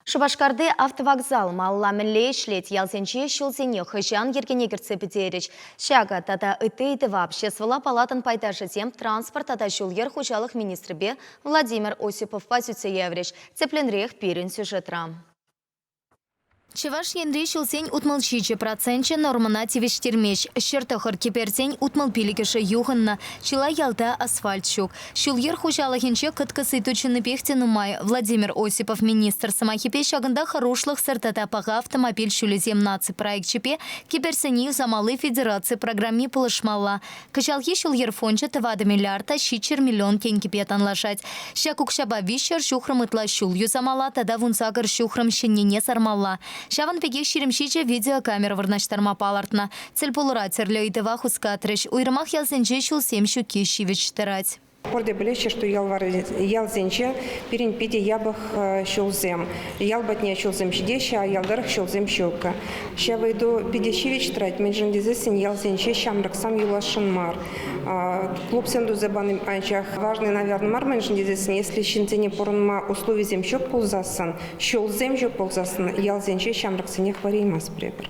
Шупашкарти автовокзал малла мӗнле ӗҫлет, ялсенче ҫулсене хӑҫан йӗркене кӗртсе пӗтерӗҫ. Ҫакӑ тата ытти ыйтӑва Обществӑлла палатӑн пайташӗсем транспорт тата ҫул-йӗр хуҫалӑх министрӗпе Владимир Осиповпа сӳтсе яврӗҫ. Тӗплӗнрех пирӗн сюжетра. Чӑваш Енри ҫулсен утмӑл ҫичӗ проценчӗ нормӑна тивӗҫтермест. Ҫӗр тӑхӑр кӗперсен утмӑл пилӗкӗшӗ юхӑннӑ. Чылай ялта асфальт ҫук. Ҫул-йӗр хуҫалӑхӗнче кӑткӑс ыйту чӑннипех те нумай. Владимир Осипов министр сӑмахӗпе ҫакӑнта хӑрушлӑхсӑр тата паха автомобиль ҫулӗсем наци проекчӗпе кӗперсене юсамалли федераци программи пулӑшмалла. Кӑҫалхи ҫул-йӗр фончӗ тӑватӑ миллиарда ҫиччӗр миллион тенкӗпе танлашать. Ҫак укҫапа виҫҫӗр ҫухрӑм ытла ҫул юсамалла тата вунсакӑр ҫухрӑм ҫӗннине сармалла. Ҫавӑн пекех ҫирӗм ҫичӗ видеокамера вырнаҫтарма палӑртнӑ. Тӗлпулура тӗрлӗ ыйтӑва хускатрӗҫ, уйрӑмах ялсенче ҫулсем ҫукки ҫивӗч тӑрать. Пурте пӗлеҫҫӗ, что ялсенче пирӗн питӗ япӑх ҫулсем. Ял патне ҫулсем ҫитеҫҫӗ, а ял тӑрӑх ҫулсем ҫук. Ҫав ыйту питӗ ҫивӗч тӑрать, мӗншӗн тесессӗн ялсенче ҫамрӑксам юласшӑн мар. Клубсем туса пани анчах важный, наверное, мар, мӗншӗн тесессӗн если ҫынсене пурӑнма условисем ҫук пулсассӑн, ҫулсем ҫук пулсассӑн ялсенче ҫамрӑксене хӑвареймасть пӗр-пӗр.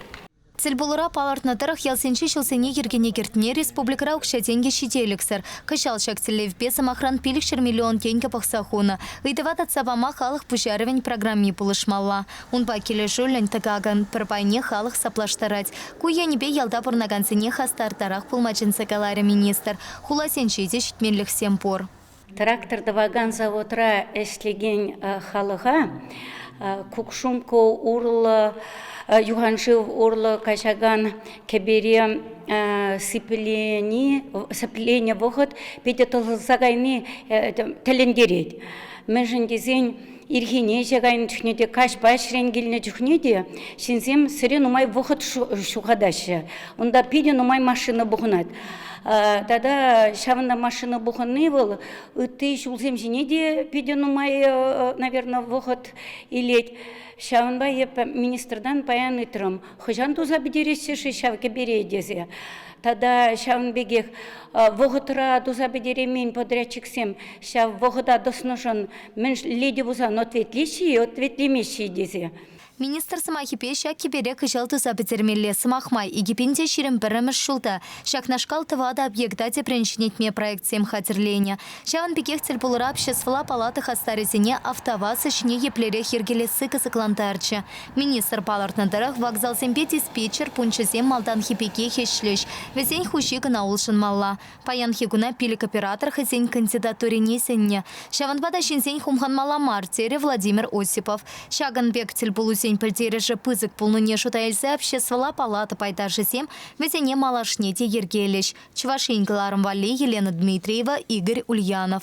Тӗлпулура палӑртнӑ тӑрӑх ялсенчи ҫулсене йӗркене кӗртме республикӑра укҫа-тенкӗ ҫителӗксӗр. Кӑҫал ҫак тӗллевпе, сӑмахран, пилӗкҫӗр миллион тенкӗ пӑхса хунӑ. Ыйтӑва татса пама халӑх пуҫарӑвӗн программи пулӑшмалла. Унпа килӗшӳллӗн тӑкакӑн пӗр пайне халӑх саплаштарать. Ку енӗпе ялта пурӑнакансене хастартарах пулма чӗнсе каларӗ министр. Хуласенче те ҫитменлӗхсем пур. Трактор тӑвакан заводра ӗҫлекен халӑха Кукшумкку урлӑ, юханшыв урлӑ каҫакан кӗпере сипленӗ вӑхӑт питӗ тӑсӑлса кайни тӗлӗнтерет. Мӗншӗн тесен Ирхине ӗҫе кайнӑ чухне те, каҫпа ӗҫрен килнӗ чухне те ҫынсем сӗре нумай вӑхӑт ҫухатаҫҫӗ. Унта питӗ нумай машина пухӑнать. Тата ҫавӑнта машина пухӑнни вӑл ытти ҫулсем ҫине те питӗ нумай, наверное, вӑхӑт илет. Ҫавӑнпа эп министртан паян ыйтрӑм, хӑҫан туса пӗтереҫҫӗ-ши ҫав кӗпере тесе. Тата ҫавӑн пекех вӑхӑтра туса пӗтереймен подрядчиксем ҫав вӑхӑта тӑснӑшӑн мӗн леди пулсан ответлеҫҫӗ-и, ответлемеҫҫӗ-и тесе. Министр сӑмахӗпе ҫак кӗпере кӑҫал туса пӗтермелле. Сӑмах май, икӗпен те ҫирӗм пӗрремӗш ҫулта ҫакнашкал тӑватӑ объекта тӗпрен ҫӗнетме проектсем хатӗрленӗ. Ҫавӑн пекех тӗлпулура обществӑлла палата хастарӗсене автоваза ҫине еплерех йӗркелесси кӑсӑклантарчӗ. Министр палӑртнӑ тӑрӑх, вокзалсемпе диспетчер пункчӗсем малтанхи пекех ӗҫлӗҫ, вӗсен хуҫи кӑна улшӑнмалла. Паянхи куна пилӗк оператор хӑйсен кандидатурине сӗннӗ. Ҫавӑнпа та ҫынсен хумханмалла мар, терӗ Владимир Осипов. Ҫакӑн пек тӗлпулусен пӗлтерӗшӗ пысӑк пулнине шута илсе обществӑлла палата пайташӗсем вӗсене малашне те йӗркелӗҫ, Чӑваш Ен кӑларӑм валли Елена Дмитриева, Игорь Ульянов.